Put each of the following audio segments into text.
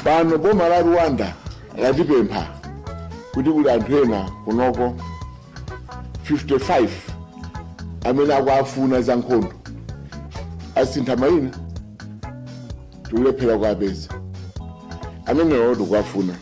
pano boma la rwanda latipempha kuti kuli anthu ena kunoko 55 amene akuafuna za nkhondo asintha mayina tikulephera kuapeza amenewo tikuafuna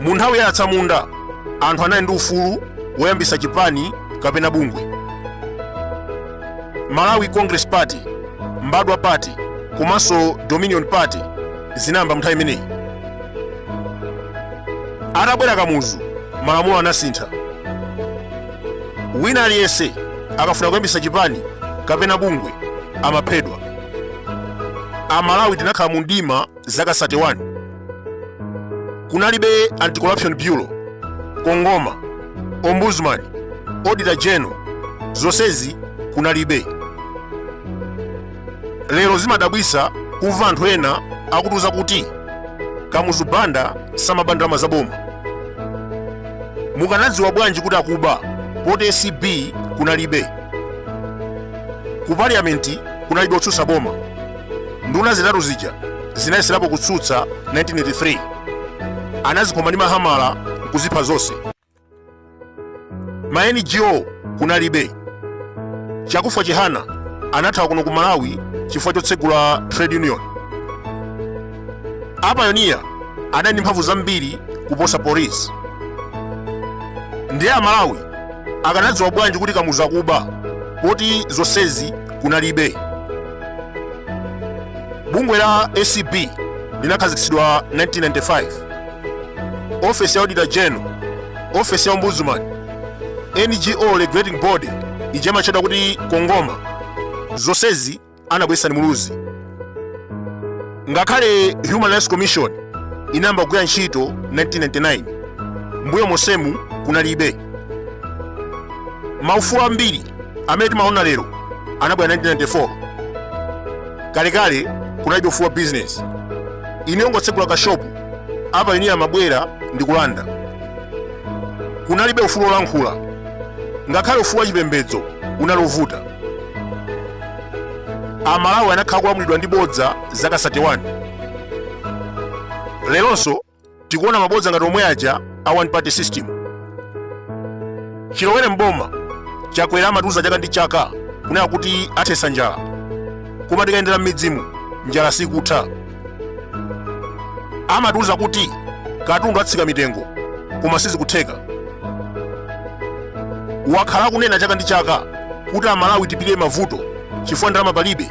mu nthawi ya atsamunda anthu anali ndi ufulu woyambisa chipani kapena bungwe malawi congress party mbadwa party komanso dominion party zinayamba mnthawi imeneyi atabwera kamuzu malamulo anasintha wina aliyense akafuna kuyambisa chipani kapena bungwe amaphedwa amalawi tinakhala mu mdima zaka 31 kunalibe anti-corruption bureau kongoma ombudsman auditor general zonsezi kunalibe lero zimadabwisa kumva anthu ena akutiuza kuti kamuzu banda samaba ndalama za boma mukanadziwa bwanji kuti akuba poti acb kunalibe ku parliamenti kunalibe otsutsa boma nduna zitatu zija zinayeserapo kutsutsa 1983 anazikhoma ndi mahamala nkuzipha zonse ma ngo kunalibe chakufwa chihana anathawa kuno ku malawi chifukwa chotsegula trade union apayoniya anali ndi mphamvu zambiri kuposa polisi ndiye amalawi akanadziwa bwanji kuti kamuzu akuba poti zonsezi kunalibe bungwe la acb linakhazikitsidwa 1995 ofesi ya auditor general ofesi ya ombudsman ngo regulating body ija imatchedwa kuti kongoma zonsezi anabweretsa ndi muluzi ngakhale human rights commission inayamba kugwira ntchito 1999 mbuyo monsemu kunalibe maufulu ambiri amene timaona lero anabwera 1994 kalekale kunalibe ufulu wa bizinesi iyi yongotsegula kashopu apayoniya amabwera ndi kulanda kunalibe ufulu wolankhula ngakhale ufulu wa chipembedzo unali wovuta amalawi anakhala kulamulidwa ndi bodza zaka 31 leronso tikuona mabodza ngati omwe aja a one party system chilowere mboma chakwera amatiuza chaka ndi chaka kunena kuti athetsa njala koma tikayendera m'midzimu njala sikutha amatiuza kuti katundu atsika mitengo koma sizikutheka wakhala akunena chaka ndi chaka kuti amalawi tipirire mavuto chifukwa ndalama palibe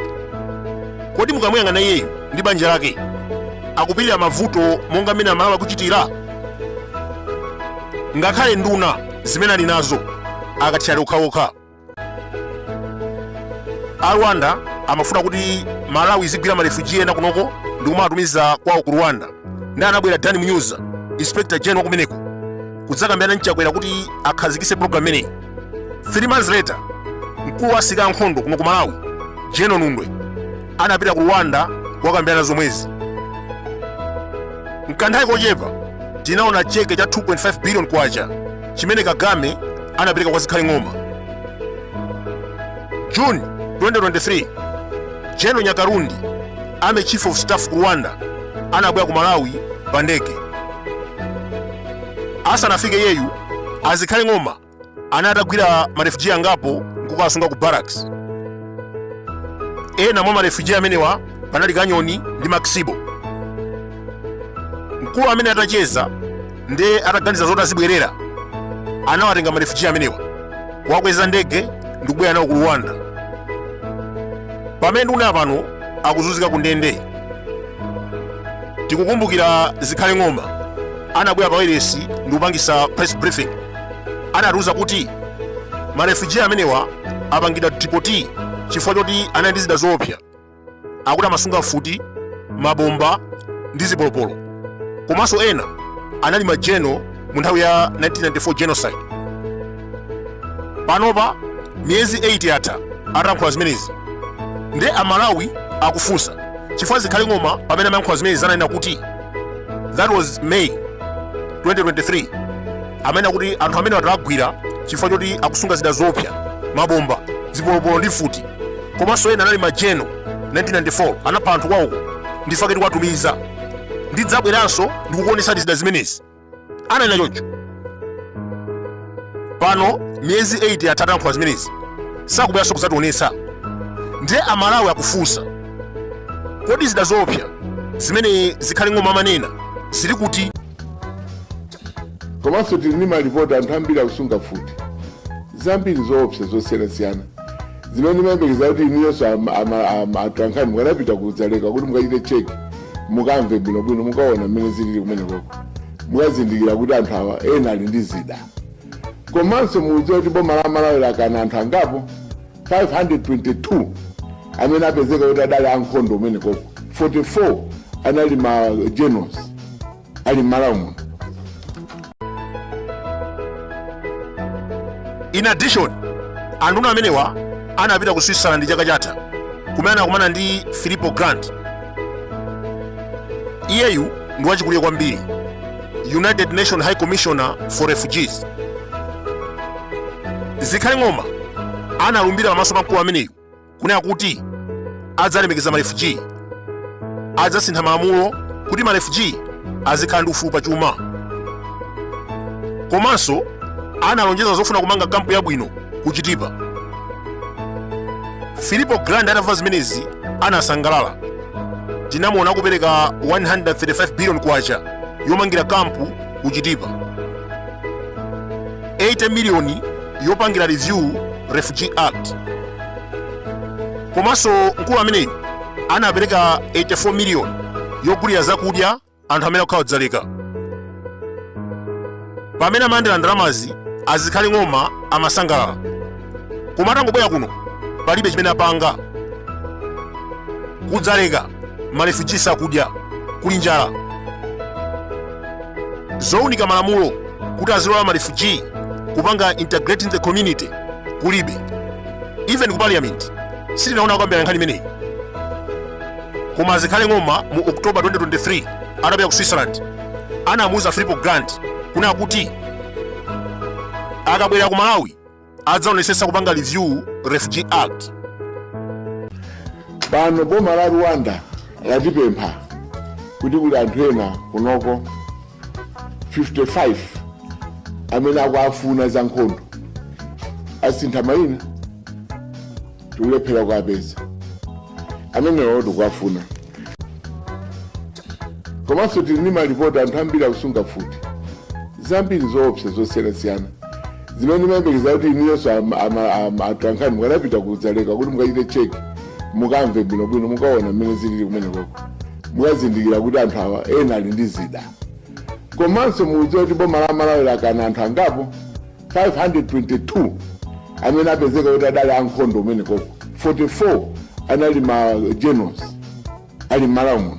kodi mukamuyang'ana iyeyu ndi banja lake akupirira mavuto monga mmene amalawi akuchitira ngakhale nduna zimene ali nazo akathyali okhaokha a rwanda amafuna kuti malawi izigwira marefuji ena kunoko ndi kumawatumiza kwawo ku rwanda nde anabwera dan munyuza inspector general wakumeneko kudzakambirana mchakwera kuti akhazikise program imeneyi three months later mkulu wa asilikali ankhondo kuno ku malawi general nundwe anapita ku rwanda kukakambirana zomwezi mkanthawi kochepa tinaona cheke cha 2.5 billion kwacha chimene Kagame anapereka kwa Zikhale Ng'oma. June 2023, General Nyakarundi, Army Chief of Staff ku Rwanda, anabwera ku Malawi pa ndege. Asanafike iyeyu, a Zikhale Ng'oma anali atagwira marefugee angapo nkukawasunga ku barracks. Ena mwa marefugee amenewa panali Kanyoni ndi Maxibo. Mkulu amene atacheza ndi iye ataganiza zoti azibwerera anawatenga marefuji amenewa kuwakweza ndege ndi kubwera nawo ku rwanda pamene nduna pano akuzunzika ku ndende tikukumbukira zikhale ng'oma anabwera pa wailesi ndi kupangisa press briefing anatiuza kuti marefuji amenewa apangidwa dipoti chifukwa choti anali ndi zida zoopsa akuti amasunga mfuti mabomba ndi zipolopolo komanso ena anali majeno mu nthawi ya 1994 genocide panopa miyezi 8 yatha atayankhula zimenezi nde amalawi akufunsa chifukwa zikhale ng'oma pamene amayankhula zimenezi ananena kuti that was may 2023 amanena kuti anthu amene tawagwira chifukwa choti akusunga zida zoopsa mabomba zipolopolo ndi mfuti komanso ena anali majeno 1994 anapha anthu kwawoko ndifake tikuwatumiza ndidzabweranso ndikukuonetsani zida zimenezi ananena choncho pano miyezi 8 yatha atayankhula zimenezi sakubweranso kudzationetsa ndiye amalawi akufunsa kodi zida zoopsa zimene zikhale ng'oma amanena zili kuti Komanso tili ndi malipoti anthu ambiri akusunga mfuti zambiri zoopsa zosiyanasiyana zimene ndimayembekeza kuti inuyonso atolankhani mukanapita ku dzaleka kuti mukachite cheki mukamve bwinobwino mukaona mmene zilili kumenekoko mukazindikira kuti anthu awa ena ali ndi zida komanso mudziwe kuti boma la malawi lakana anthu angapo 522 amene apezeka kuti adali ankhondo kumenekoko 44 anali ma generals ali m'malawi muno in addition anduna amenewa anapita ku switzerland chaka chatha kumene anakumana ndi filippo grandi iyeyu ndi wachikulire kwambiri united nations high commissioner for refugees zikhale ng'oma analumbira pamaso pa mkulu ameneyu kunena kuti adzalemekeza marefuji adzasintha malamulo kuti marefuji azikhala ndi ufulu pa chuma komanso analonjeza zofuna kumanga kampu yabwino ku chitipa filippo grandi atamva zimenezi anasangalala tinamuona akupereka 135 billion kwacha yomangira kampu ku chitipa 80 miliyoni yopangira review Refugee Act. Komanso mkulu ameneyu anapereka 84 million yogulira zakudya anthu amene akukhala kudzaleka. Pamene amalandira ndalamazi azikhale ng'oma amasangalala. Koma atangobwera kuno palibe chimene apanga. Kudzaleka marefugee sakudya kuli njala. zounika malamulo kuti azilola marefugee kupanga integrate in the community kulibe even ku parliament sitinaona kukambirana nkhani imeneyi koma azikhale ng'oma mu october 2023 atapita ku switzerland anamuuza filippo grandi kunena kuti akabwerera ku malawi adzaonesetsa kupanga review refugee act pano boma la rwanda latipempha kuti kuli anthu ena kunoko 55 amene akuafuna za nkhondo asintha mayina tikulephera kuwapeza amenewo tikuwafuna komanso tili ndi malipoti anthu ambiri akusunga mfuti zambiri zoopsa zosiyanasiyana zimene ndimayembekeza kuti inuyonso atolankhani mukanapita kudzaleka kuti mukachite cheki mukamve bwinobwino mukaona mmene zilili kumenekoko mukazindikira kuti anthu awa ena ali ndi zida komanso mudziwe kuti boma la malawi lakana anthu angapo 522 amene apezeka kuti adali ankhondo kumenekoko 44 anali ma generals ali m'malawi muno